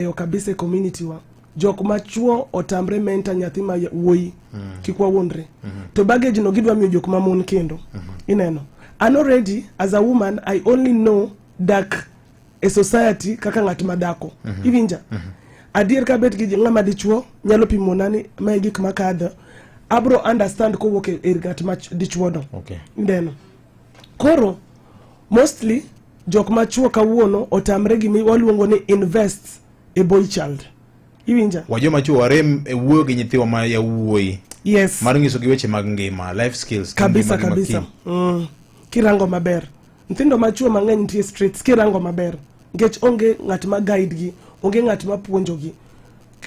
e okabise community wa jok ma chuo otamre menta nyathi ma wuoyi mm. kik wawuondre mm -hmm. to baggage no gidwa miyo jok ma mon kendo mm -hmm. ineno an already as a woman i only know dak e society kaka ng'at ma dako mm -hmm. iwinja mm -hmm. adier ka bet gi ng'ama dichuo nyalo pimo nani ma gik makadho abro understand kowuok e, e ng'at ma dichuono okay. ndeno Koro mostly jok machuo kawuono otamre gimi waluongo ni invest a boy child. Iwinja? Wajo machuo warem e wuoyo gi nyithiwa ma yawuoyi. Yes. Mar nyiso gi weche mag ngima, life skills. Kabisa kabisa. Mm. Kirango maber. Nyithindo machuo mang'eny nitie streets kirango maber. Nikech onge ng'at ma guide gi, onge ng'at ma puonjo gi.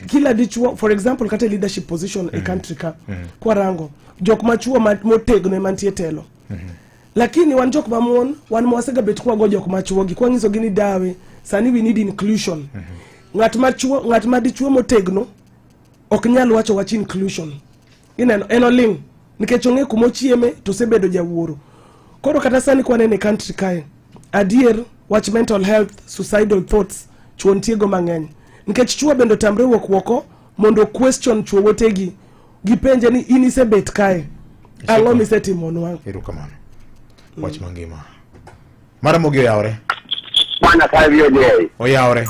kila dichuo for example kata leadership position mm -hmm. e country ka mm -hmm. kwa rango jok machuo motegno mantie telo mm -hmm. lakini wan jok mamon wan mwasega bet kwa go jok machuo gi kwa ngiso gini dawe sani we need inclusion mm -hmm. ngat machuo ngat madichuo motegno ok nyal wacho wach inclusion ineno en oling' nikech ong'e kuma ochieme to osebedo jawuoro koro kata sani kwanene country kae adier wach mental health suicidal thoughts chuo ntiego mang'eny nikech chuo bende otamre wuok woko mondo question chuo wetegi gipenje ni in isebet kae ang'o misetimonwa erokamano wach mangima mara mogi oyawore Bwana kazi oje. oyawore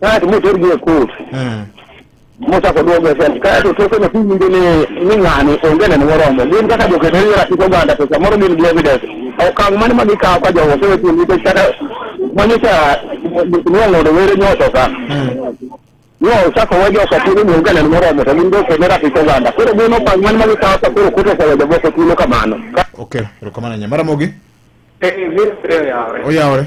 Kae to moter gi e kot. Mm. Mochako duogo e sel. Kae to toke nyathi winjo ni ni ng'ani onge neno moromo. Gin kaka joketeri e ratich oganda to samoro gin gi evidence. Okang' mane ma gikawo ka jogo osewe thuolo nikech kata manyocha nong'odo were nyoso ka. No, ochako we joka thuolo ni onge neno moromo to gin joketeri e ratich oganda. Koro gin okang' mane ma gikawo ka koro koto osewe jomoko thuolo kamano. Okay, erokamano ahinya. Maramogi, Eh, vile yao. oyawore.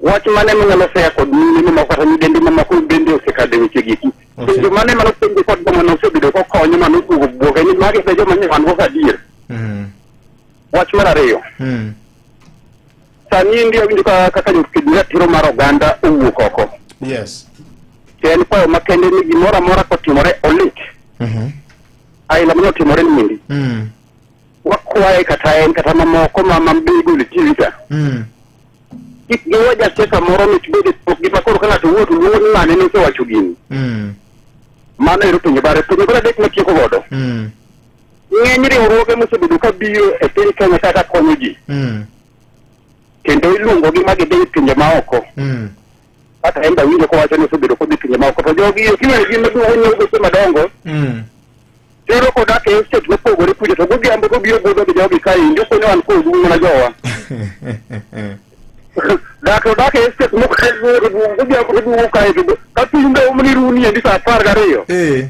Wach mane manyalo seya kod mine mamoko kata nyidendi mamoko bende osekadho e weche giki. Ose- Penjo mane mano penjo kod joma nosebedo kokonyo mano oduogo bwoga ni magi be joma nyawan go adier. Mm. Wach mar ariyo. Mm. Sani ndi awinjo ka kaka jokedo ratiro mar oganda owuok oko. Yes. To en kwayo makende ni gimoro amora kotimore olit. Mhm. Aila mane otimore ni mindi. Mm. Wakwaye kata en kata mamoko ma mabigol tv ka. Mm. Kik giwe jasiasa moro mit bed e pok gi ma koro ka ng'ato wuoyo to luongo ni ng'ane ni osewacho gini. Mm. Mano ero penjo bare. Penjo bare adek matieko godo. Mm. Ng'eny riwruoge mosebedo ka biro e piny Kenya kaka konyo ji Mm. kendo iluongogi ma gidhi e pinje maoko. Mm. kata en be awinjo kowacho ni osebedo kodhi pinje maoko to jogi kiwene gin maduong' onyiew geche madongo Mm. tero kodak e estate mopogore kuja to godhiambo gobiro budho gi jogi ka in jokone wan kodu mana jowa dak to dak e estate mokore duong' godhiambo goduogo kae to ka piny be omni runi endi sa apar gariyo Eh.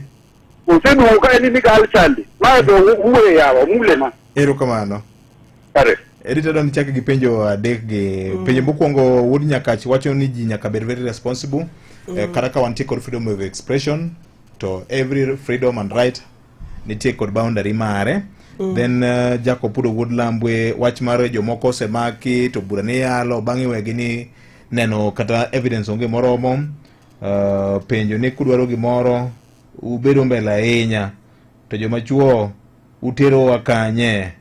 Oseduogo ka en ni gal chande. Ma to uwe yawa mule ma. Erokamano. Kare. Edita don chak gi penjo adek gi mm. penjo mokwongo wuod Nyakach wacho ni ji nyaka bed very responsible mm. eh, kata ka wantie kod freedom of expression to every freedom and right nitie kod boundary mare mm. then uh, Jacob Pudo Wuod Lambwe wach mar jomoko osemaki to bura ni yalo bang'e wegi ni neno kata evidence onge moromo Uh, penjo ni kudwaro gimoro ubedo mbele ahinya to joma chuo uterowa kanye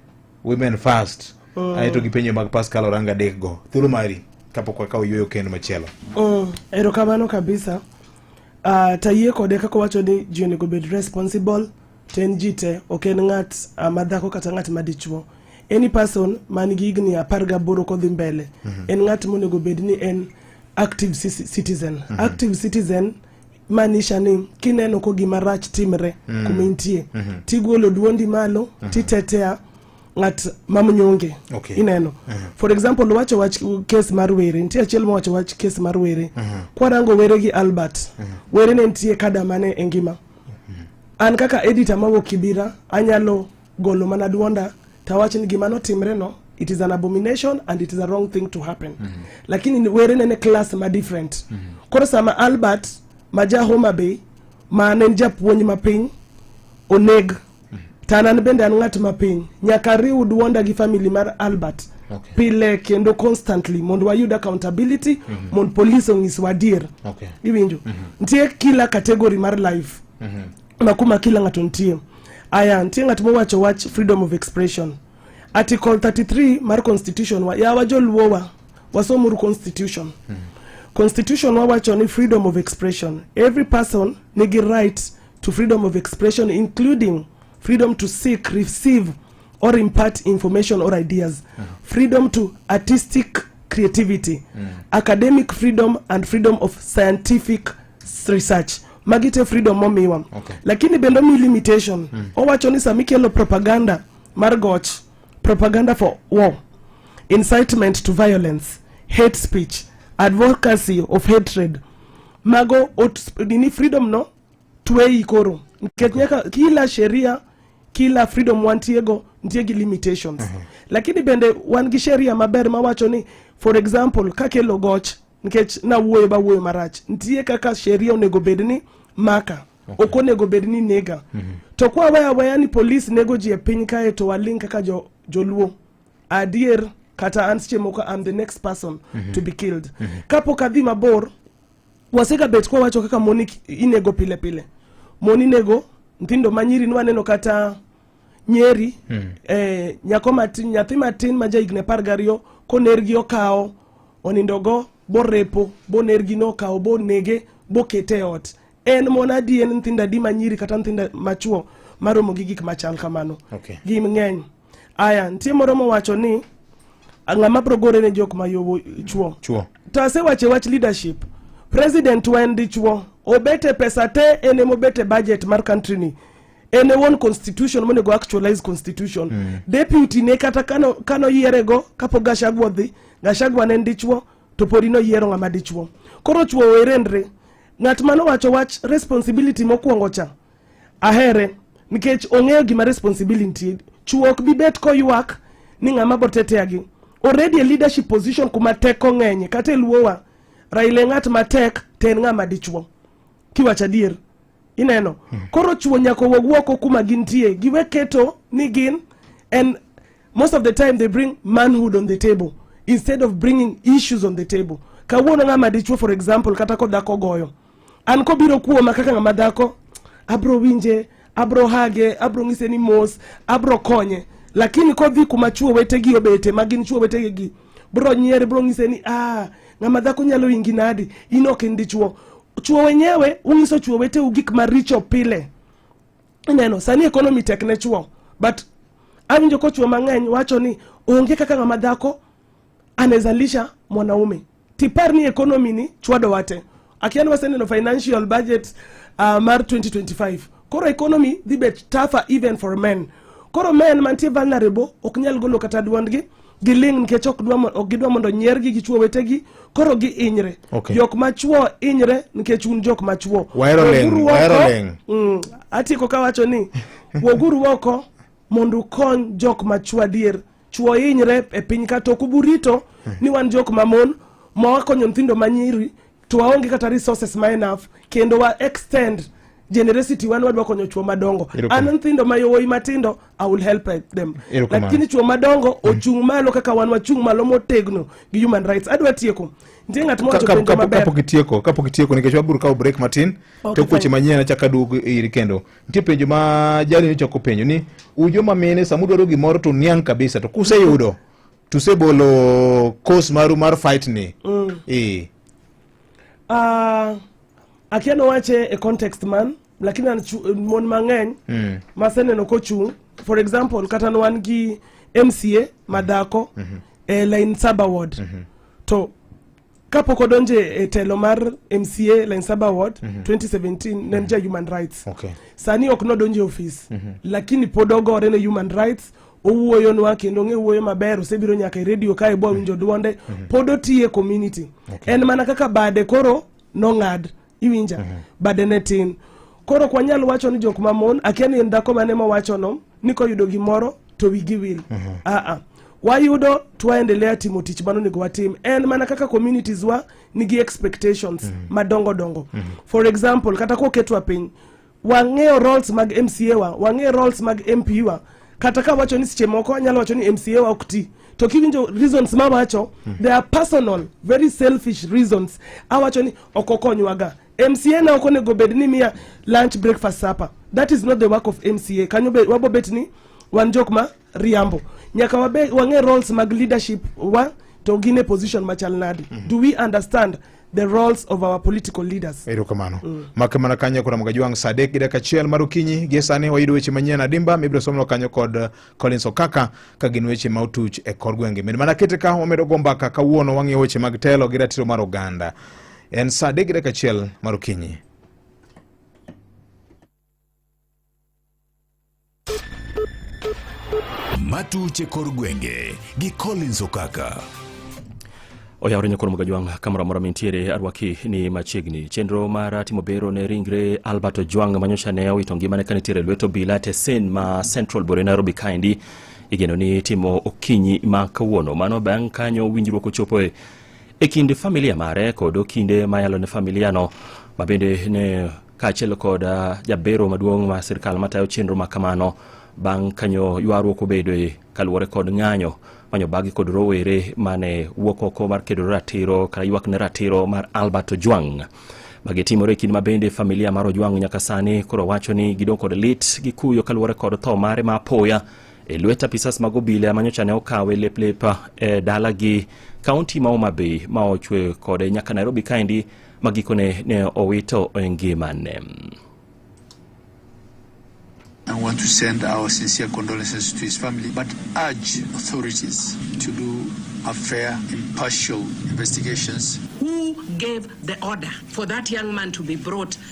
women first oh. ae to gi penjo mag pascal oranga dek go thuolo mari kapok wakawo yueyo kendo machielo oh, erokamano kabisa uh, tayie kode kaka owacho ni ji onego bed responsible to en ji te ok en ng'at ah, madhako kata ng'at madichuo any person man gi higni apar gaboro kodhi mbele mm -hmm. en ng'at monego bed ni en active citizen mm -hmm. active citizen manisha ni kineno ko gima rach timre mm -hmm. kuma intie mm -hmm. tigolo duondi malo mm -hmm. titetea ng'at mamnyonge okay. ineno uh mhm. -huh. for example wacho wach kes mar were nitie achiel mowacho wach kes mar were uh mhm. -huh. kwarango were gi albert uh mhm. -huh. were ne nitie kada mane e ngima an kaka editor mawuok kibira anyalo golo mana duonda tawach ni gima notimre no it is an abomination and it is a wrong thing to happen mm -hmm. lakini were nene class ma different mm -hmm. koro sama albert ma ja homa bay ma ne en japuonj mapiny oneg mm -hmm. to an bende an ng'at mapiny nyaka riw duonda gi family mar albert okay. pile kendo constantly mondo wayud accountability mm -hmm. mondo police onyiswa adier okay. iwinjo mm -hmm. nitie kila category mar life mm -hmm. makuma kila ng'ato nitie aya nitie ng'at mowacho wach freedom of expression article 33 mar constitution wa yawa joluowa wasomuru constitution mm -hmm. constitution wawacho ni freedom of expression every person nigi right to freedom of expression including freedom to seek receive or impart information or ideas mm -hmm. freedom to artistic creativity mm -hmm. academic freedom and freedom of scientific research magi te freedom momiwa okay. lakini bende omi limitation mm -hmm. owacho ni sama ikelo propaganda mar goch propaganda for war incitement to violence hate speech advocacy of hatred mago ot, nini freedom no tweyi koro nikech nyaka kila sheria kila freedom wantiego nitie gi limitations uh mhm. -huh. lakini bende wan gi sheria maber mawacho ni for example kakelo goch nikech nawuoyo bawuoyo marach nitie kaka sheria onego bed ni maka okay. ok onego bed ni nega mm -hmm. to kwa weya weya ni polis nego ji e piny kae to waling kaka jo, joluo adier kata an seche moko am the next person mm -hmm. to be killed mm -hmm. kapok adhi mabor Wasega bet kwa wacho kaka moni inego pile pile. Moni nego nthindo manyiri ni waneno kata nyeri mm. eh, nyako matin nyathi matin ma ja higni apar gariyo konergi okawo onindogo borepo bonergi nokawo bonege bokete e ot en mon adi en nthindo adi manyiri kata nthindo machuo maromo gi gik machal kamano okay. gi ng'eny Aya, nitie moro mowacho ni ng'ama bro gore ne jok ma yowo chuo. Chuo. To asewache wach leadership. President wa en dichuo. Obete pesa te en emobete budget mar country ni. En e won constitution monego actualize constitution. Mm. Deputy ne kata kano kano yierego kapo Gachagua dhi, Gachagua ne en dichuo to podi no yiero ng'ama dichuo. Koro chuo werendre. Ng'at mano wacho wach responsibility mokwongo cha. Ahere nikech ong'eyo gima responsibility chuo ok bi bet koywak ni ng'ama boteteagi already a leadership position kuma teko ng'enye kata eluowa Raila ng'at matek to en ng'ama dichuo kiwacho adier ineno hmm. koro chuo nyaka owuog wuoko kuma gintie giwe keto ni gin and most of the time they bring manhood on the table instead of bringing issues on the table kawuono ng'ama dichuo for example kata kodhako goyo an kobiro kuoma kaka ng'ama dhako abro winje abro hage abro ng'ise ni mos abro konye lakini kodhi kuma chuo wetegi obete ma gin chuo wetegegi bro nyiere bro ng'ise ni ah, ng'ama dhako nyalo ingi nadi in ok in dichuo chuo wenyewe ung'iso chuo weteu gik maricho pile ineno sani economy tek ne chuo but awinjo ko chuo mang'eny wacho ni onge kaka ng'ama dhako anaweza lisha mwanaume tipar ni economy ni chwado wate akian waseneno financial budget uh, mar 2025 koro economy dhi bet tougher even for men koro men mantie vulnerable ok nyal golo kata dwondgi giling nikech ok gidwa mondo nyiergi gi chuo wetegi koro giinyre okay. jok machuo inyre nikech un jok machuo mm, atieko kawacho ni woguru oko mondo ukony jok machuo adier chuo hinyre e piny ka to kubu rito hmm. ni wan jok mamon ma wakonyo nyithindo manyiri to waonge kata resources ma enough kendo wa extend generosity wan wadwa konyo chuo madongo an nyithindo ma yowuoyi matindo i will help them lakini chuo madongo hmm. ochung' malo kaka wan wachung' malo motegno gi human rights adwa tieko nitie ng'at mowachokapok itieko kapok itieko nikech wabiro kawo break matin okay, to kueche manyien achaka duogo iri kendo nitie penjo ma jali nyocha ok openjo ni ujo ma mine sama udwaro gimoro to niang' kabisa to kuseyudo tusebolo course maru mar fight ni mm. eh. uh, akia nowache e context man lakini mon mang'eny mm. maseneno kochung' for example kata nwan gi mca madhako mm -hmm. e line saba ward mm -hmm. to kapok odonje e telo mar mca line saba ward mm -hmm. 2017 ne en mhm. ja human rights okay. sani ok nodonje ofis mm -hmm. lakini pod ogore ne human rights owuoyo nwa kendo ng'e wuoyo maber osebiro nyaka e redio kae bwa winjo mhm. dwonde mm -hmm. pod otiye community okay. en mana kaka bade koro nong'ad iwinja mm -hmm. bade ne tin koro ok wanyal wacho ni jok mamon akia ni en dhako mane mowachono ni koyudo gimoro to wigi wil mm -hmm. aa ah, ah. wayudo twaendelea timo tich mano onego watim en mana kaka communities wa nigi expectations mm -hmm. madongo dongo mm -hmm. for example kata koketwa piny Wang'eyo roles mag MCA wa, wang'eyo roles mag MP wa. Kata ka wacho ni seche moko anyalo wacho ni MCA wa ok ti. To kiwinjo reasons ma wacho, hmm. they are personal, very selfish reasons. Awacho ni ok okonywaga. MCA na ok onego bed ni miya lunch, breakfast, supper. That is not the work of MCA. Kanyo wabobet ni wan jok ma riambo nyaka wabe wang'e roles mag leadership wa to gin e position machal nadi mm -hmm. do we understand the roles of our political leaders erokamano mm. make mana kanyo kod mga jwang' saa adek gi dakika achiel mar okinyi gie sani wayudo weche manyien adimba mibiro somno kanyo kod uh, collins okaka ka gin weche ma otuch e kor gwenge min mana kete ka wamedo go mbaka kawuono wang'iyo weche mag telo gi ratiro mar oganda en saa adek gi dakika achiel mar okinyi matuche kor gwenge gi Collins Okaka. oyawore nyakoro moga jwang' kamoro amora mintiere arwaki ni machiegni chenro mar timo bero ne ringre albert ojwang' manyocha ne owito ngimane ka nitiere lweto bila tesen ma central bore nairobi kaendi igeno ni timo okinyi ma kawuono mano bang' kanyo winjruok ochopoe e kind familia mare kod okinde ma yalo ne familiano ma bende ne kaachiel kod ah, jabero maduong' ma sirkal matayo chenro ma kamano bang' kanyo ywaruok obedoe kaluwore kod ng'anyo manyo bagi kod rowere mane wuok oko mar kedo ratiro kata ywak ne ratiro mar Albert Ojwang' magitimore e kinde ma bende familia mar Ojwang' nyaka sani koro wacho ni gidong' kod lit gi kuyo kaluwore kod tho mare ma apoya e lwet apisas mag obila manyocha ne okawe leplep e dalagi kaunti ma Homa Bay ma ochwe kode nyaka Nairobi kaendi ma gikone ne owito e ngimane. I want to send our sincere condolences to his family, but urge authorities to do a fair, impartial investigations. Who gave the order for that young man to be brought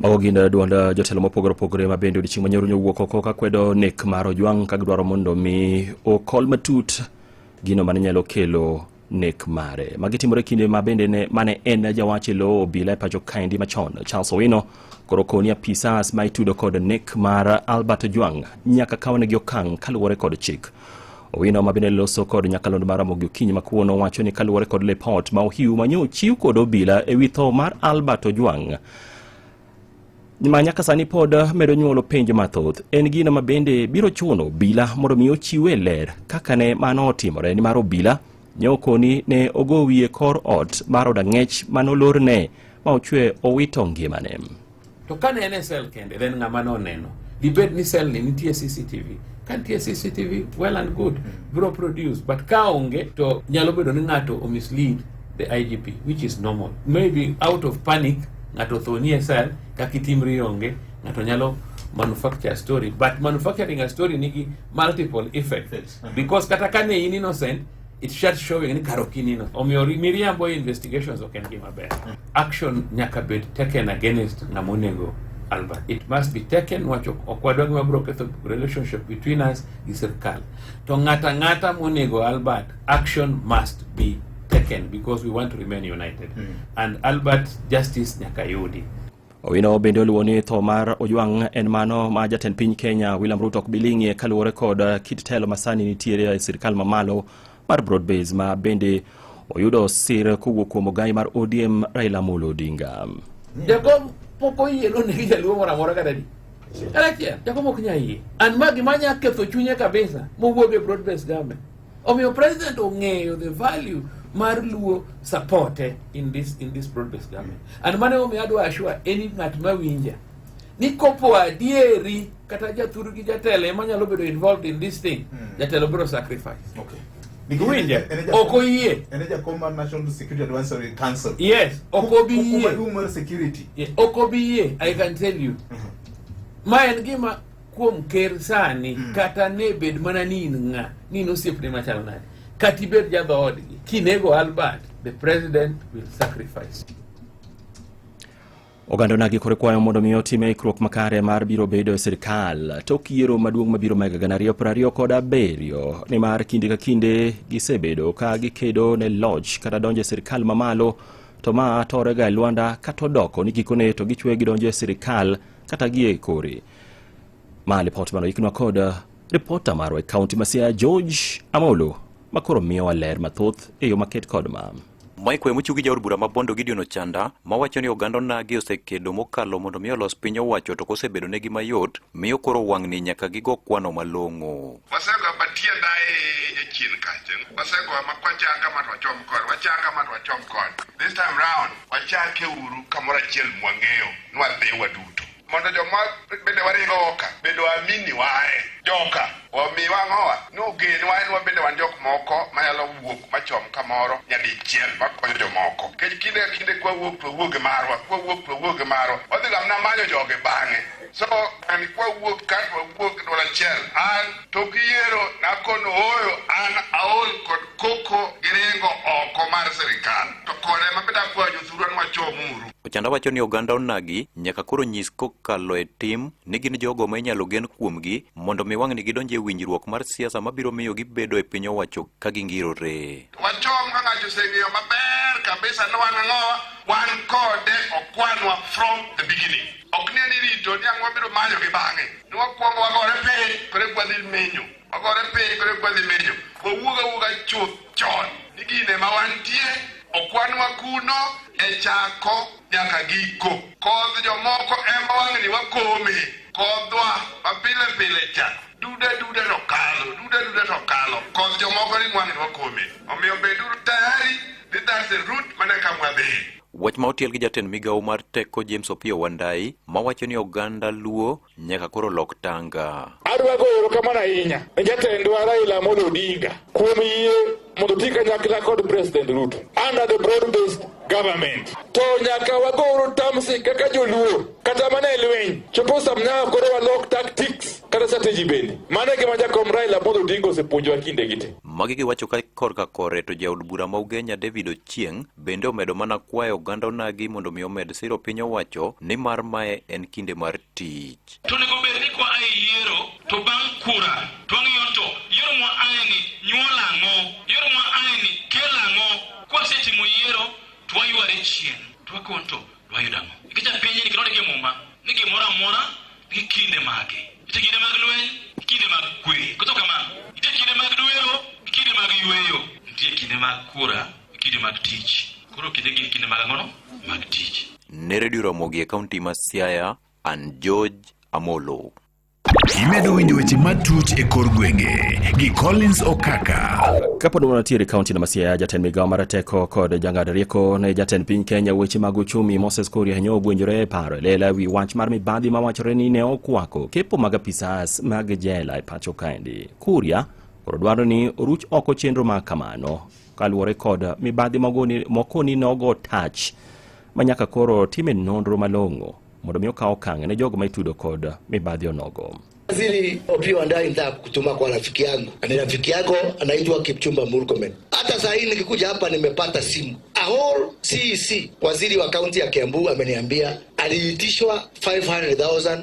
Mago gin eh, duond eh, jotelo mopogore opogore ma bende odiechieng' manyoro nyowuok oko ka kwedo nek mar Ojwang' ka gidwaro mondo mi okol matut gino mane nyalo kelo nek mare. Magi timore kinde ma bende ne mane en jawach e lo obila e pacho kaendi machon Charles Owino koro koni apisas ma itudo kod nek mar Albert Ojwang' nyaka kawnegi okang' kaluwore kod chik. Owino ma bende loso kod nyakalondo mar Ramogi Okinyi ma kuono wacho ni kaluwore kod lipot ma Ohiu manyo chiw kod obila e wi tho mar Albert Ojwang' ma nyaka sani pod medo nyuolo penjo mathoth en gino ma bende biro chuno obila mondo mi ochiwe ler kaka ne mano otimore nimar obila nyokoni ne ogo wiye kor ot mar od ang'ech mane olorne ma ochwe owito ngimane to kane en e sel kende then ng'ama noneno dibed ni sel ni nitie cctv ka nitie cctv well and good biro produce but ka onge to nyalo bedo ni ng'ato omislead the IGP which is normal maybe out of panic ng'ato thonie sel kaka itimri onge ng'ato nyalo manufacture story but manufacturing a story nigi multiple effects because kata kane in innocent it shut showing ni karo kin innocent omiyo miriambo investigations ok en gima ber action nyaka bed taken against ng'ama onego Albert. It must be taken wacho ok wadwa gima biro ketho relationship between us gi sirkal. To ng'ata ng'ata monego Albert Action must be taken because we want to remain united. Mm. And Albert Justice Nyakayudi Owino bende oluwo ni tho mar Ojwang' en mano ma jatend piny Kenya William Ruto ok biling'ie kaluwore kod uh, kit telo masani nitiere e sirkal mamalo mar Broadbase ma bende oyudo sir kowuok kuom ogai mar ODM Raila Amolo Odinga. Jakom pok oyie no negi jaluo moro amora kata di. Kalachiel, jakom ok nya yie. An ma gima nya ketho chunye kabisa mowuog e Broadbase government. Omiyo president ong'eyo the value mar luo supporte in this in this broad based government and mane omiyo adwa ashua any ng'at ma winja ni kopo adieri kata jathuru gi jatelo ema nyalo bedo involved in this thing mm. jatelo biro sacrifice okay. Winje, ok oyie. En e jakom mar National Security Advisory Council. Yes, ok obi yie. Hukumar security. Yes, ok obi yie, I can tell you. Mm -hmm. Ma en gima kuom ker sani mm. kata ne bed mana ni in ng'a ni in osiepne machal nade kata ibed jadhoodgi kinego albert the president will sacrifice oganda onagi kore kwayo mondo mi otime ikruok makare mar biro bedo e sirikal tok yiero maduong' mabiro ma higa gana ariyo piero ariyo kod abiriyo nimar kinde ka kinde gisebedo ka gikedo ne loch kata donjo e sirikal mamalo to ma torega e lwanda kata odoko ni gikone to gichwe gidonjo e sirikal kata gie kori ma lipot mano iknwa kod uh, ripota marwa e kaunti ma Siaya George Amolo makoro miyowa ler mathoth e yo maket kod ma Mike Wemo chugi jaod bura ma Bondo Gideon Ochanda mawacho ni oganda onagi osekedo mokalo mondo mi olos piny owacho to kosebedo negi mayot miyo koro wang'ni nyaka gigo kwano malong'o. Wasego batienda e nyachien kacha. Wasego ma kwachanga ma twachom kod wachanga ma twachom kod. This time round wachake uru kamoro achiel mwang'eyo nwadhi waduto. mondo joma bende waringo oka bende wamini wae joka omi wang'owa ni ogen wae ni wabende wan jok moko manyalo wuok machom kamoro nyadichiel makonyo jomoko kech kinde ka kinde kwawuok to wawuoge marwa kwawuok to wawuoge marwa wadhi gamna manyo joge bang'e so an kwawuok kar wawuok dwol achiel an to giyiero nakono ooyo an aol kod koko giringo oko mar sirikal to kode mabeda kwajo thuru an wachomuru Ochanda wacho ni oganda onagi nyaka koro nyis kokalo e tim ni gin jogo ma inyalo gen kuomgi mondo mi wang'ni gidonj e winjruok mar siasa mabiro miyo gibedo e piny owacho ka gingirore. Wachom ka ng'ato oseng'eyo maber kabisa ni wan ang'owa, wan kode okwanwa from the beginning. Ok ni en irito ni ang'o biro manyo gi bang'e. Ni wakwongo wagore piny, kore kwadhi menyo. ogore piny kore kwadhi menyo owuog awuoga chuth chon ni gine ma wantie okwanwa kuno e chako nyaka giko kodh jomoko ema wang'ni wakome kodhwa mapile pile cha duda duda to kalo duda duda to kalo kodh jomoko ni wang'ni wakome omiyo beduru tayari ni that's the route mana kamwadhi Wach ma otiel gi jatend migawo mar teko James Opiyo Wandayi mawacho ni oganda Luo nyaka koro lok tanga. Adwa goyo erokamano ahinya ne jatendwa Raila Amolo Odinga kuom yie mondo oti kanyakla kod President Ruto under the broad based government. To nyaka wagor tamsi kaka joluo kata mana e lweny chopo sam nyaka koro walok tactics kata strategy bende. Mano e gima jakom Raila Amolo Odinga osepuonjowa kinde gi te. Magi giwacho ka korka kore to jaod bura ma Ugenya David Ochieng Bende omedo mana kwayo oganda onagi mondo mi omed siro piny owacho ni mar mae en kinde mar tich. To nego bed ni kwa ae yiero to bang' kura to wang'iyo to yiero mwa ae ni nyuol ang'o, yiero mwa ae ni kel ang'o. Kwa setimo yiero to wayware chien to wakon to wayudo ang'o. Nikech a piny ni kinodi gi muma ni gimora mora gi kinde mage. Ite kinde mag lweny, kinde mag kwe. Kuto kamano, ite kinde mag duero, kinde mag yueyo. Nitie kinde mag kura Kinde mag tich. Koro kinde gin kinde mag ang'ono mag tich. Ne redio Ramogi e kaunti ma Siaya, an George Amolo. Imedo winjo weche matut e kor gwenge gi Collins Okaka. Kapod wanatiere kaunti na Masia, jatend migawo mar teko kod jang'ad rieko ne jatend piny Kenya weche mag uchumi Moses Kuria nyo ogwenjore e paro e lela wi wach mar mibadhi ma wachore ni ne okwako kepo mag apisas mag jela e pacho kaendi. Kuria koro dwaro ni oruch oko chenro ma kamano. kaluwore kod mibadhi moko ni nogo tach ma nyaka koro time nonro malong'o mondo mi okaw okang' ne jogo ma itudo kod mibadhi onogo. Waziri Opiyo Wandayi, nitaka kutuma kwa rafiki yangu, ni rafiki yako anaitwa Kipchumba Murkomen. Hata saa hii nikikuja hapa nimepata simu Ahol CEC, e waziri wa kaunti ya Kiambu ameniambia aliitishwa 500,000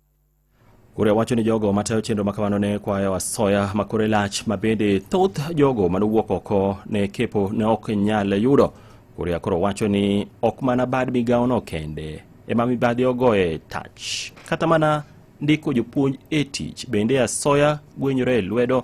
Kuria wacho ni jogo matayo chenro ma kamano ne kwayo asoya ma kore lach ma bende thoth jogo mane owuok oko ne kepo ne ok nyal yudo. Kuria koro wacho ni ok mana bad migawono kende ema mibadhi ogoye tach. Kata mana ndiko jopuonj e tich bende asoya gwenyore e lwedo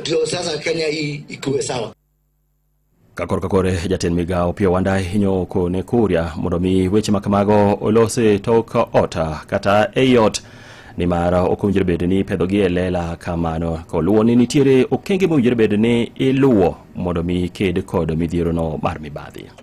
ndio sasa Kenya hii ikuwe sawa. kakor kakore jatend migawo pio wanda hinyo kone kuria mondo mi weche ma kamago olose tok ot kata ei ot nimar ok owinjore bedo ni ipedhogi e lela kamano koluwo ni nitiere okenge mowinjore bedo ni iluwo mondo mi ked kod midhierono mar mibadhi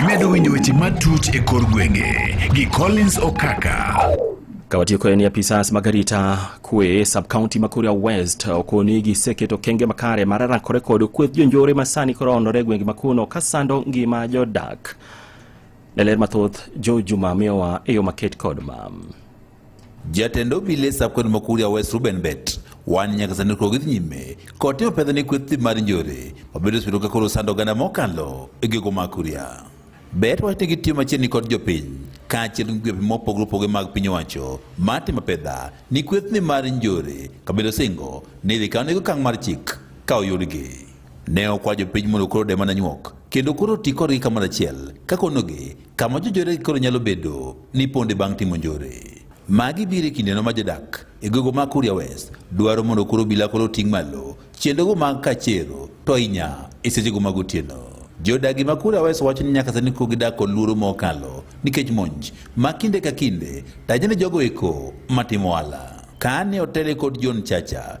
Imedo winjo weche matut e kor gwenge gi Collins Okaka. Kawatiyo kod ni apisas mag arita kwe sub county ma Kuria West okoni giseketo kenge makare mar rakore kod kweth jonjore ma sani koro ondore gwenge ma kuno ka sando ngima jodak. Leler mathoth Jo Juma miyowa e yo maket kod mam. Jatend obile sabkaunti ma Kuria West Ruben Bet wan nyaka sani koro gidhi nyime kod timo pesa ni kweth mar njore mabedo osebedo ka koro sando oganda mokalo e gigo ma Kuria. Bet wacho ni gitiyo machiegni kod jopiny kaachiel gi migepe mopogore opogore mag piny owacho mar timo pesa ni kwethni mar njore kabedo singo ni idhi kaw nego okang' mar chik ka oyudgi. Ne okwa jopiny mondo koro de mana nyuok kendo koro ti kodgi kamoro achiel kakonogi kama jojore koro nyalo bedo ni ponde bang' timo njore. Magi biro e kindeno ma jodak e gogo ma Kuria West dwaro mondo koro obila koro ting' malo chendogo mag kachero to inya e sechego mag otieno. Jodagi ma Kuria West wacho ni nyaka sani koro gidak kod luoro mokalo nikech monj ma kinde ka kinde taje ni jogo eko matimo ohala. Kane otele kod John Chacha,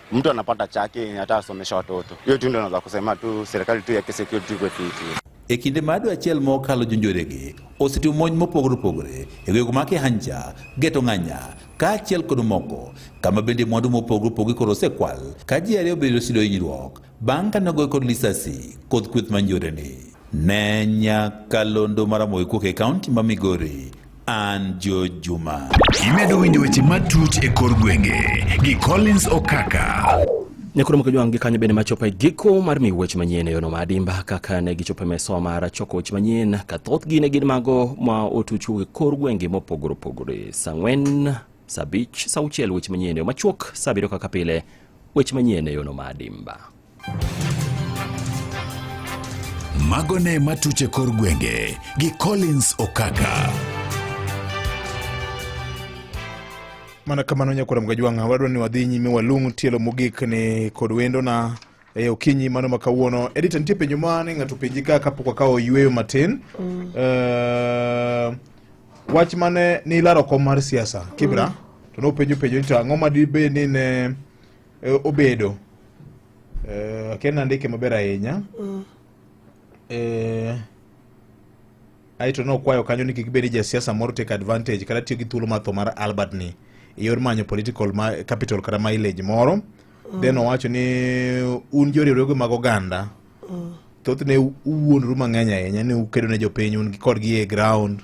mtu anapata chake yenye hata asomesha watoto. Hiyo tu ndio naweza kusema tu serikali tu yake security kwa fiti. E kinde ma adwa achiel mokalo jonjorege osetimo monj mopogore opogore e gwego make Hanja, Geto Ng'anya kaachiel kod moko kama bende mwandu mopogore opogore koro osekwal ka ji ariyo obedo sido hinyruok Bang' kane ogoye kod lisasi kod kweth manjoreni, ne nyaka londo maramoe kuok e kaunti ma Migori an jo Juma. Imedo winjo weche matut e kor gwenge gi Collins Okaka. Nyakuro moko jwang' gi kanyo bende machopo e giko mar miyo weche manyien e yono ma adimba kaka ne gichopo e meso mar choko weche manyien ka thothgi ne gin mago ma otuch e kor gwenge mopogore opogore. Sa ang'wen, sa abich, sa auchiel weche manyien e yo machuok, sa abiriyo kaka pile Weche manyien e yono ma adimba. Mago ne matuche kor gwenge gi Collins Okaka. Mana kamano nyakwara mgajwang'a wadwa ni wadhi nyime walung' tielo mogik ni kod wendona e okinyi mano ma kawuono edita nitie penjo mane ng'ato penji ka kapok wakawo yueyo matin mm. uh, Wach mane ni ilaro kom mar siasa Kibra mm. to nopenjo penjo ni to ang'o ma dibe ni ne e, obedo eh, akia nandike maber ahinya mm. eh, aeto nokwayo kanyo ni kik bed ni jasiasa moro take advantage kata tiyo gi thuolo mar tho mar Albert ni e yor manyo political capital kata mileage moro mm. then owacho ni un joriwruoge mag oganda mm. thothne uwuondru mang'eny ahinya ni ukedo ne jopiny un kodgi e ground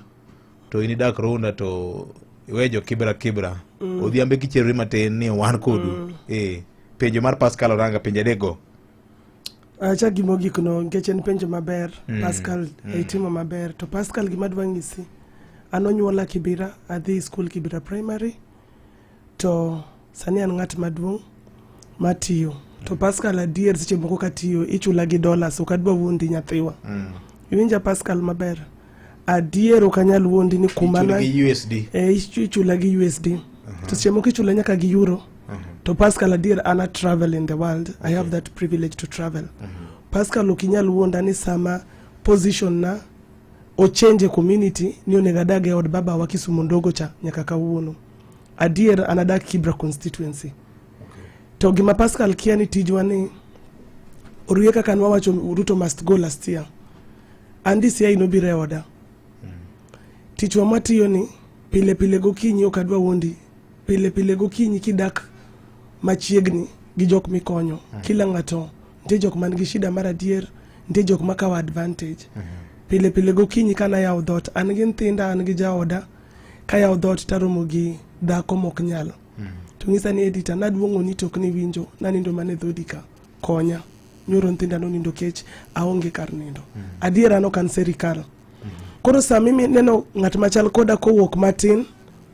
to in idak runda to iwe jo kibra kibra mm. odhiambe kicherori matin ni wan kodu mm. e penjo mar pascal oranga penjo adekgo acha ah, gima ogik no nikech en penjo maber mm. pascal mm. Eh, itimo maber to pascal gima adwa ng'isi an onyuola kibira adhi skul kibira primary To sani an ng'at maduong' matiyo to Pascal adier seche moko katiyo ichula gi dollars ok adwa wuondi nyathiwa mm. iwinja Pascal maber adier ok anyal wuondi ni kuma na eh, ichula gi USD uh -huh. to seche moko ichula nyaka gi euro uh -huh. to Pascal adier ana travel in the world okay. I have that privilege to travel uh -huh. Pascal ok inyal wuonda ni sama position na ochange community ni onego adag e od baba wa Kisumu ndogo cha nyaka kawuono Adier an adak Kibra constituency. Okay. To gima Pascal kia ni tijwa ni orie kaka nwa wacho Ruto must go last year. And this year inobiro e oda. Mm. Tichwa matiyo ni pile pile gokinyi ok adwa wuondi. Pile pile gokinyi kidak machiegni gi jok mikonyo. Mm. Kila ng'ato nitie jok man gi shida mar adier, nitie jok makawo advantage. Mm -hmm. Pile pile gokinyi kana yawo dhot an gi nyithinda an gi jaoda kayawo dhoot taromo gi dhako mok nyal mm. to ng'isa ni edita naduong'o ni tok ni winjo nanindo mane dhodi ka konya nyoro nyithinda nonindo kech aonge kar nindo mm. adiera no kan serikal mm. koro sami neno ng'at machal koda kowuok matin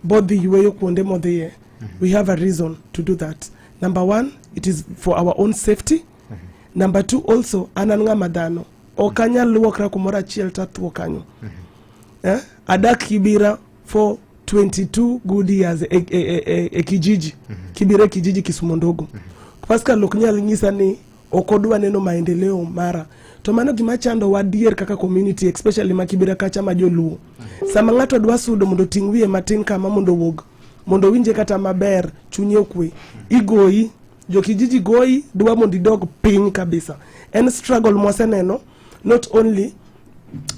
bodhi yueyo kuonde modhiye mm -hmm. we have a reason to do that number one it is for our own safety mm -hmm. number two also an an ng'ama dhano ok anyal luokra kumoro achiel tatuo kanyo mm -hmm. eh? adak kibira for 22 good years e, e, e, e, e kijiji mm -hmm. kibira e kijiji kisumo ndogo mm -hmm. pascal ok nyal nyisa ni ok odwa neno maendeleo mara to mano gima chando wadier kaka community especially ma kibira kacha ma joluo mm -hmm. sama ng'ato dwa sudo mondo ting' wiye matin kama mondo owuog mondo owinje kata maber chunye okwe igoyi Jokijiji goyi dwa mondo idog piny kabisa. En struggle mwaseneno not only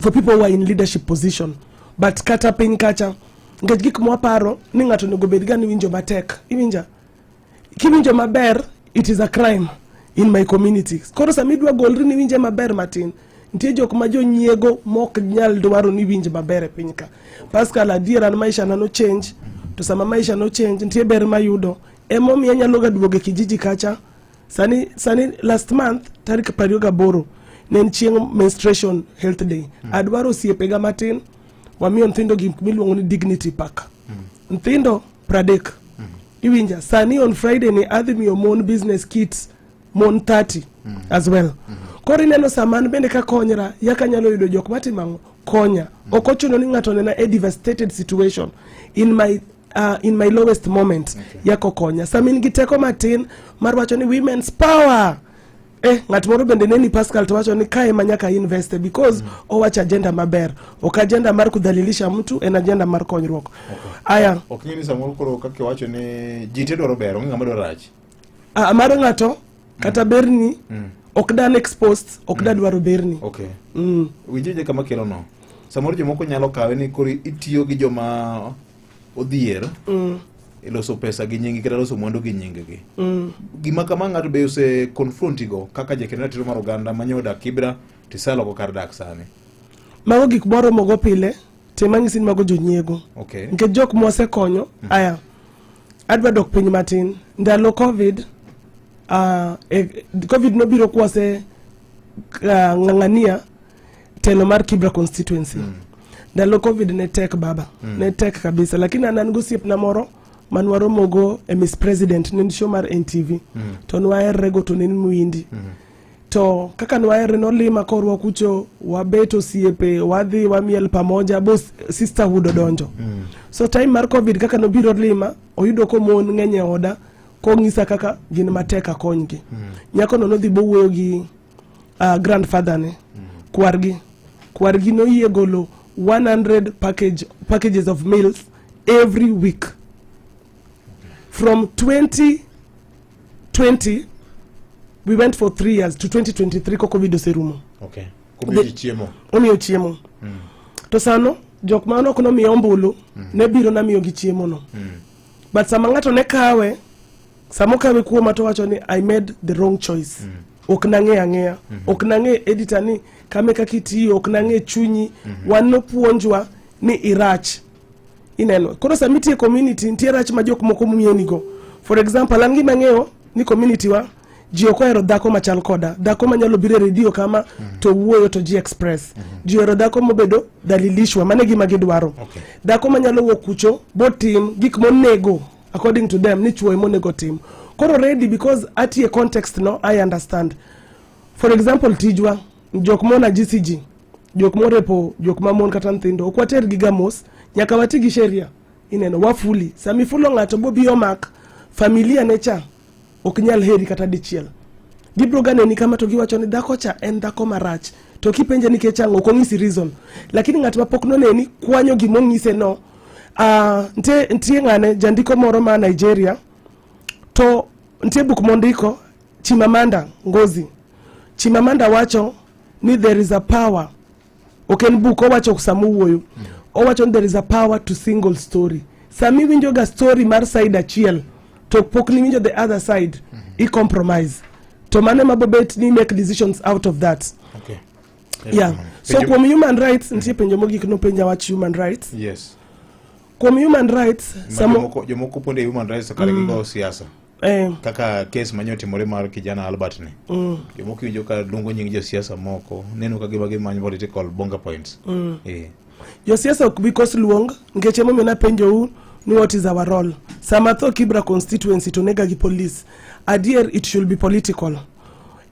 for people who are in leadership position but kata piny kacha nikech gik mwaparo ni ng'ato onego bed ga ni winjo matek iwinja kiwinjo maber it is a crime in my community koro sama idwa golri ni winje maber matin nitie jok ma jonyiego mok nyal dwaro ni winj maber e piny ka pascal adier an maisha na no change to sama maisha no change nitie ber mayudo Emomiyo anyalo ga duogo e kijiji kacha. Sani sani last month tarik 28 ne en chieng' menstruation health day. Mm. Adwaro osiepega matin wamiyo nyithindo gik miluongo ni dignity pack. Mm. Nyithindo pradek. Mm. Iwinja sani on Friday ni adhi miyo mon business kits mon 30 mm. as well. Mm. Koro ineno saman bende ka konyra yaka nyalo yudo jok matimo konya. Mm. Ok ochuno ni ng'ato nena a devastated situation in my uh, in my lowest moment okay. yako konya sama in gi teko matin mar wacho ni women's power Eh, ng'at moro bende neni Pascal to wacho ni kae ma nyaka investe because mm. owacho agenda maber ok agenda mar kudhalilisha mtu en agenda mar konyruok okay. aya ok nyini samoro koro kaka wacho ni ji te dwaro ber onge ng'ama dwaro rach ah, mar ng'ato kata mm. berni mm. ok dan exposed ok mm. da dwaro berni okay. mm. winjije kama kelo no samoro jomoko nyalo kawe ni koro itiyo gi joma odhier mm. e loso pesa gi nyingi kata loso mwandu gi nyingi gi mm. gima kama ng'ato be ose confronti go kaka jakeno ratiro mar oganda ma nyoda kibra tisalo go kar dak sani mago gik moromo go pile tema nyisin mago jonyiego okay. nikech jok mwasekonyo mm. aya Adwa dok piny matin. Ndalo Covid, uh, e, Covid nobiro kwase uh, ng'ang'ania telo mar Kibra constituency. Mm. Ndalo Covid ne tek baba. Mm. Ne tek kabisa. Lakini an an gosiepna moro man waromogo e Miss President ne en show mar NTV. Mm. To nwaherrego to ne en mwindi. Mm. to kaka nwaere nolima korwa kucho wabet osiepe wadhi wamiel pamoja bo sisterhood odonjo mm. so time mar covid kaka nobiro lima oyudo komon ng'eny e oda kong'isa kaka gin matek akonygi mm. nyakono nodhi bowuoyo gi uh, grandfather ne mm. kwargi kwargi noyie golo 100 package, packages of meals every week from 20 20 we went for 3 years to 2023 ko covid oserumo okay omiyo chiemo omiyo chiemo mm. to sano jok ma nok nomiya ombulu mm. ne biro namiyogi chiemono mm. but sama ng'ato ne kawe sama okawe kuoma to wacho ni i made the wrong choice mm. ok nang'e ang'eya mm -hmm. ok nang'e edita ni kame kaka itiyo ok nang'e chunyi mm -hmm. wan nopuonjwa ni irach Ineno? Koro sama itie community nitie rach ma jok moko mienigo. For example, an gima ang'eyo ni community wa ji ok ohero dhako machal koda dhako manyalo biro e redio kama mm -hmm. to wuoyo to ji express mm -hmm. ji ohero dhako mobedo dalilishwa mane gima gidwaro okay. dhako manyalo wuok kucho botim gik monego according to them ni chuoye monego tim koro ready because atie context no i understand for example tijwa jok mona gcg jok morepo jok mamon kata nyithindo ok water gi gamos nyaka wati gi sheria ineno wafuli sama ifulo ng'ato bobi omak familia ne cha ok nyal heri kata dichiel gibiro ga neni kama to giwacho ni dhako cha en dhako marach to kipenje nikech ang'o ok onyisi reason lakini ng'at ma pok noneni kwanyo gima onyise no uh, ah, ntie, ntie ng'ane jandiko moro ma nigeria to ntie buk mondiko chimamanda ngozi chimamanda wacho ni there is a power ok en buk owacho sama owuoyo mm. owacho ni there is a power to single story sami winjo ga story mar side achiel to pok ni winjo the other side mm -hmm. i compromise to mane mabobet ni make decisions out of that okay. yeah. yeah. so kuom human rights mm -hmm. nitie penjo mogik nopenja wach human rights yes kuom human rights jomoko ponde human rights kare mm. gigo siasa Eh. kaka kes manyo timore mar kijana albert ni mm. jomoko iwinjo ka luongo nying josiasa moko neno ka gima gimanyo political bonga points mm. yeah. josiasa ok bi kos luong nikech emomiyo napenjou ni what is our role sama tho kibra constituency to nega gi police adier it should be political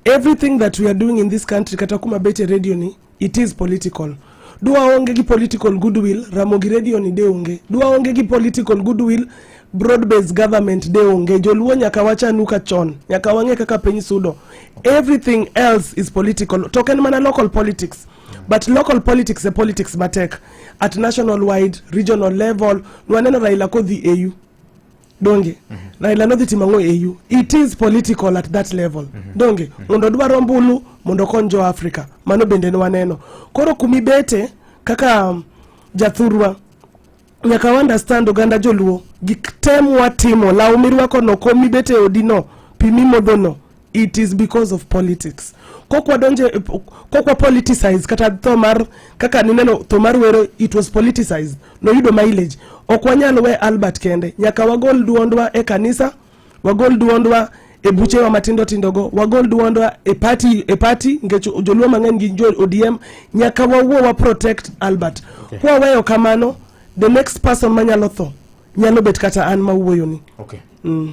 everything that we are doing in this country kata kuma bete radio ni It is political. Dwa onge gi political goodwill, Ramogi Radio ni de onge. Dwa onge gi political goodwill, broad based government de onge. Joluo nyaka wachanu ka chon, nyaka wang'e kaka piny sudo. Everything else is political. To ok en mana local politics. But local politics e politics matek. At national wide, regional level, nwaneno Raila kodhi AU. donge mm -hmm. Raila nodhi timo ang'o e EU it is political at that level mm -hmm. donge mm -hmm. mondo dwaro mbulu mondo kony jo Africa mano bende ne waneno koro kumi bete kaka um, jathurwa nyaka wa understand oganda joluo gik tem watimo law mirwako no kom mibete e odi no pi mimodho no it is because of politics kokwa donje kokwa politicize kata tho mar kaka nineno tho mar wero it was politicized noyudo mileage ok wanyal we Albert kende nyaka wagol duondwa e kanisa wagol duondwa e buchewa matindo tindo go wagol duondwa e party e party ngech joluo mang'eny gi jo ODM nyaka wawuo wa protect Albert okay. kwa weyo kamano the next person manyalo tho nyalo bet kata an mawuoyoni okay. mm.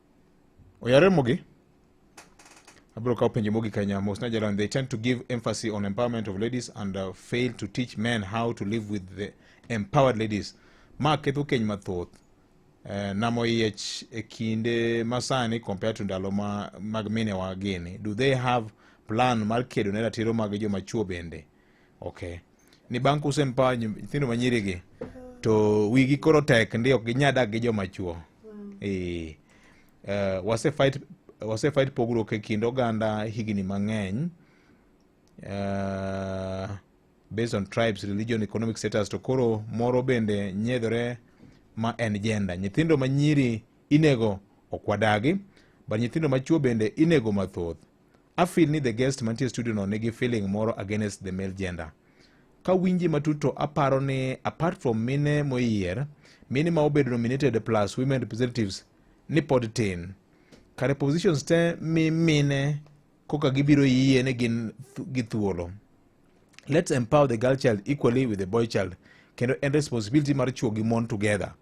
oyare mogi abiro kawo penjo mogik ahinya mos najalan they tend to give emphasis on empowerment of ladies and uh, fail to teach men how to live with the empowered ladies ma ketho keny mathoth eh, namo yiech e kinde masani compared to ndalo ma, mag minewa gini do they have plan mar kedo ne ratiro mag joma chuo bende okay ni bang' kuse mpa nyithindo manyiri gi to wigi koro tek ndi ok ginya dak gi joma chuo eh uh, wase fight wase fight pogruok e kind oganda higni mang'eny uh, based on tribes religion economic status to koro moro bende nyedhore ma en gender nyithindo manyiri inego okwadagi but nyithindo machuo bende inego mathoth I feel ni the guest mantie studio no nigi feeling moro against the male gender. Ka winji matut to aparo ni apart from mine moyier, mine ma obedo nominated plus women representatives ni pod tin. Kare positions te mi mine koka gibiro yie ni gin gi thuolo. let's empower the girl child equally with the boy child kendo en responsibility mar chuo gi mon together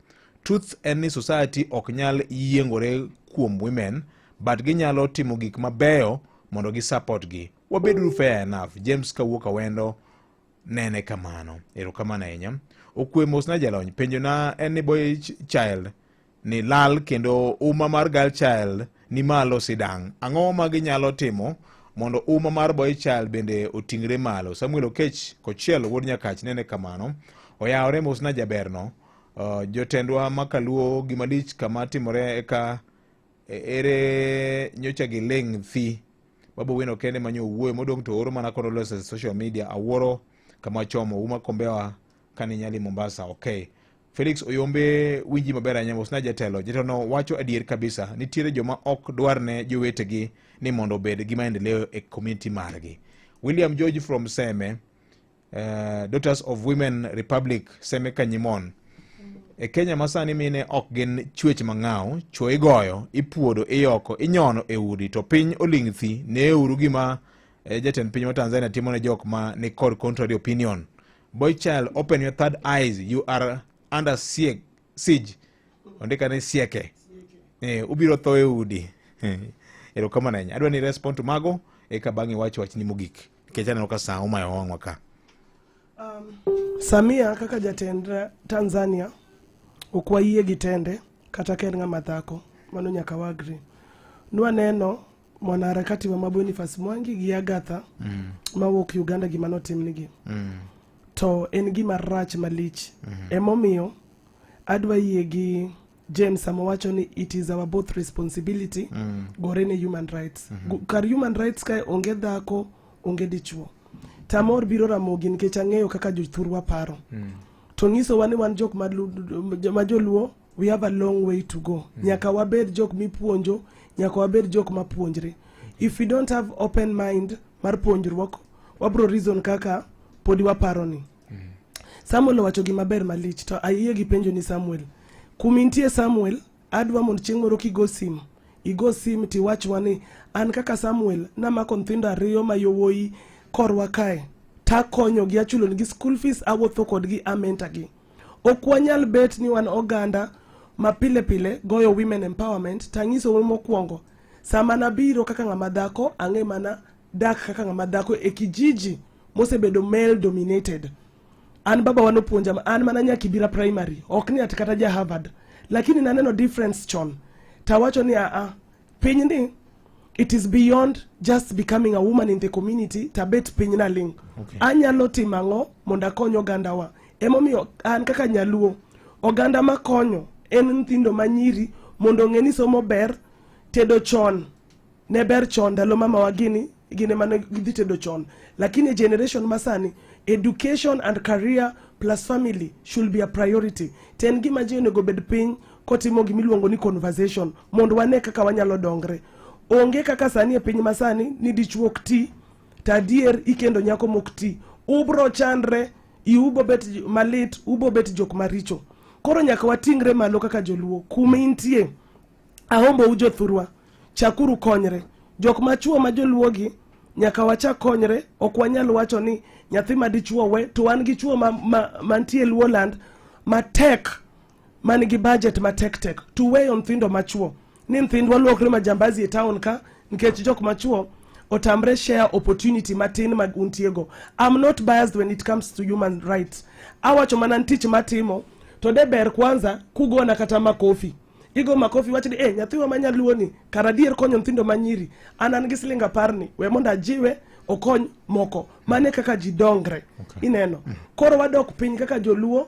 truth en ni society ok nyal yiengore kuom women but ginyalo timo gik mabeyo mondo gi support gi wabeduru fair enough james kawuok awendo nene kamano erokamano ahinya okwe mosna jalony penjona en ni boy child ni lal kendo uma mar girl child ni malo sidang' ang'o ma ginyalo timo mondo uma mar boy child bende oting're malo samuel okech kochiel wuod nyakach nene kamano oyawore mosna jaberno uh, jotendwa makaluo gimalich kama timore eka e, ere nyocha gi ling thi babu wino kende manyo owuoyo modong' to oro mana kono lose social media awuoro kama chomo uma kombewa kani nyali mombasa okay Felix Oyombe winji maber ahinya mosna jatelo. Jatelono wacho adier kabisa, nitiere joma ok dwar ne jowetegi ni mondo obed gi maendeleo e community margi. William George from Seme, uh, Daughters of Women Republic, Seme Kanyimon. E Kenya masani mine ok gin chwech mang'aw, chwo igoyo, ipuodo, iyoko, inyono e udi to piny oling' thi. Neuru gima eh, jatend piny wa Tanzania timo ne jok ma ni kod contrary opinion. Boy child, open your third eyes. You are under siege. siege. Ondika ni sieke. Eh, ubiro tho e udi. Eh, erokamano ahinya. Adwa ni respond to mago eka bang' iwach wachni mogik. Nikech aneno ka sa omayo wang'wa ka. Um, Samia kaka jatend Tanzania ok wayie gi tende kata ka en ng'ama dhako mano nyaka wagri nwaneno mwanaharakati wa Mabonifas Mwangi gi Agatha mm. mawuok Uganda gima notimnigi mm. to en gima rach malich mm -hmm. emomiyo adwa yie gi James sama wacho ni it is our both responsibility mm. gore ne human rights mm -hmm. kar human rights kae onge dhako onge dichuo tamor biro ramogi nikech ang'eyo kaka jothurwa paro mm. to ng'isowa ni wan jok ma joluo we have a long way to go mm. nyaka wabed jok mipuonjo nyaka wabed jok mapuonjre if we don't have open mind mar puonjruok wabro reason kaka podi waparo ni mm. samuel owacho gima ber malich to ayie gi penjo ni samuel kumintie samuel adwa mondo chieng' moro kigo simu igo sim tiwachwa ni an kaka samuel namako nyithindo ariyo ma yowuoyi korwa kae takonyogi achulonigi school fees awuotho kodgi amenta gi Ok wanyal bet ni wan oganda ma pile pile goyo women empowerment tanyiso we mokwongo sama nabiro kaka ng'ama dhako ang'e mana dak kaka ng'ama dhako e kijiji mosebedo male dominated an baba wan opuonja ma- an mana nya kibira primary ok ni ati kata ja harvard lakini naneno difference chon tawacho ni aa Pinyni it is beyond just becoming a woman in the community tabet piny na ling okay. anyalo timo ang'o mondo akony ogandawa emomiyo an kaka nyaluo oganda makonyo en nyithindo manyiri mondo ong'e ni somo ber tedo chon ne ber chon ndalo mamawa gini gine mane gidhi tedo chon lakini generation masani education and career plus family should be a priority ten gima ji onego bed piny kotimo gima iluongo ni conversation mondo wane kaka wanyalo dongre. Onge kaka sani e piny masani ni dichuo ok ti to adier ikendo nyako mok ti, ubro chandre, iubo bet malit, ubo bet jok maricho. Koro nyaka watingre malo kaka joluo kuma intie. Ahombo u jothurwa, chakuru konyre. Jok machuo ma joluogi nyaka wachak konyre, ok wanyal wacho ni nyathi ma dichuo we to wan gi chuo mantie ma, ma Luoland matek man gi budget matek tek to weyo nyithindo machuo ni nyithindwa luokre majambazi e town ka nikech jok machuo otamre share opportunity matin ma untiego i'm not biased when it comes to human rights awacho mana tich matimo to de ber kwanza kugona kata makofi igo makofi wach ni eh nyathiwa ma nyaluo ni kara dier konyo nyithindo manyiri an an gi siling apar ni we mondo ajiwe okony moko mane kaka ji dongre okay. ineno mm. koro wadok piny kaka joluo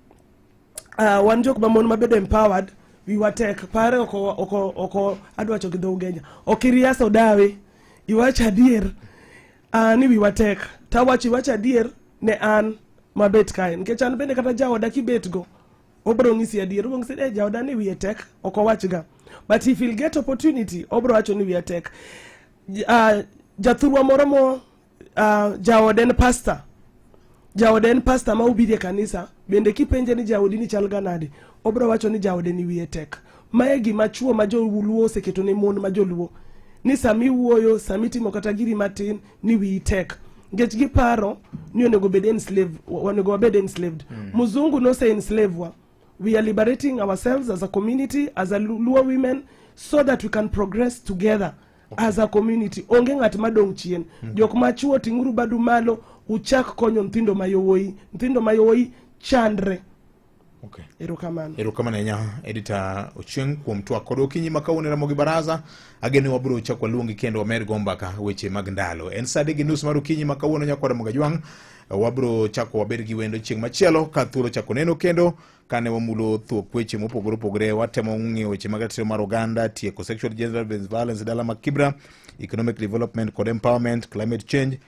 uh, wan jok mamon mabedo empowered wiwa tek pare oko oko oko adwa choki dho ugenya ok iriaso dawe iwacho adier uh, ni wiwa tek tawacho iwacho adier ne an mabet kae nikech an bende kata jaoda kibetgo obro ng'isi adier obro ng'isi ni "Eh, jaoda ni wiye tek ok owachga but if he'll get opportunity obro wacho ni wiye tek J- ah, jathurwa moro mo uh, jaode en pasta jaode en pasta ma ubidhi e kanisa bende kipenje ni jaodi ni chal ga nade obro wacho ni jaode ni wiye tek mae gima chuo ma joluo oseketo ne mon ma joluo ni sama iwuoyo sama itimo kata giri matin ni wiyi tek nikech giparo ni onego bed enslave onego wabed enslaved mm. muzungu nose enslave wa we are liberating ourselves as a community as a luo women so that we can progress together okay. as a community onge ng'at madong' chien mm -hmm. jok machuo ting'uru badu malo uchak konyo nthindo mayowoi nthindo mayowoi chandre Okay. Erokamano. Erokamano ahinya Edita Ochieng kuom twak kod okinyi ma kawuono e Ramogi Baraza. Ageno ni wabiro chako waluongi kendo wamed go mbaka weche mag ndalo. En saa adek gi nus mar okinyi ma kawuono nyakwa Ramogi Ajwang' wabiro chako wabed gi wendo chieng' machielo ka thuolo chako neno kendo kane wamulo thuok weche mopogore opogore watemo ng'iyo weche mag ratiro mar oganda tieko sexual gender violence dala mag kibra economic development kod empowerment climate change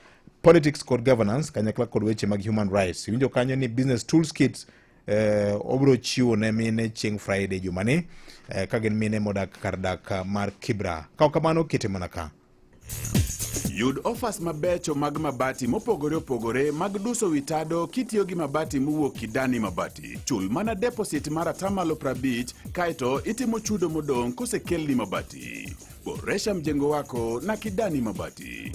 politics kod governance kanyakla kod weche mag human rights iwinjo kanyo ni business tools kits eh, obiro chiwo ne mine chieng' friday jumani eh, ka gin mine modak kar dak mar kibra ka ok kamano kete mana ka Yud ofas mabecho mag mabati mopogore opogore mag duso wi tado kitiyo gi mabati mowuok Kidani Mabati. Chul mana deposit mar atamalo 50 kaeto itimo chudo modong' kosekelni mabati. Boresha mjengo wako na Kidani Mabati.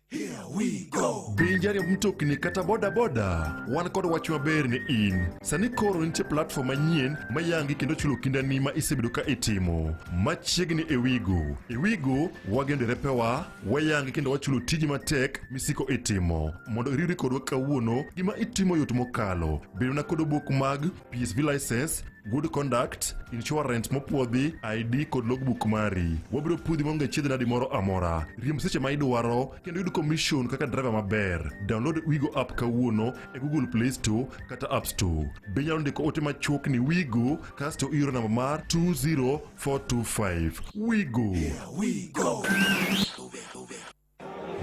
Here we go. Be jari mtokni kata boda boda. Wan kod wach maber ni in. Sani koro nitie platform manyien ma yangi kendo chulo kindani ma isebedo ka itimo. Machiegni e Wigo. E Wigo wagendo repewa, wayangi kendo wachulo tiji matek misiko itimo. Mondo iriwri kodwa kawuono, gima itimo yot mokalo. Bedona kod obok mag PSV license, good conduct, insurance mopwodhi, ID kod logbook mari. Wabiro pudhi maonge chiedh nadi moro amora. Riemb seche ma idwaro kendo yud commission kaka driver maber. Download Wigo app kawuono e Google Play Store kata App Store. Be inyalo ndiko ote machuok ni Wigo kasto ioro namba mar 20425. Wigo. Here we go.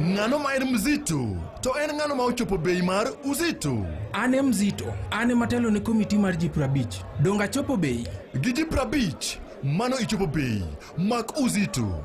Ng'ano ma en mzito? To en ng'ano ma ochopo bei mar uzito? An e mzito, an ema telo ne komiti mar ji prabich. Donge achopo bei? Gi ji prabich, mano ichopo bei. Mak uzito.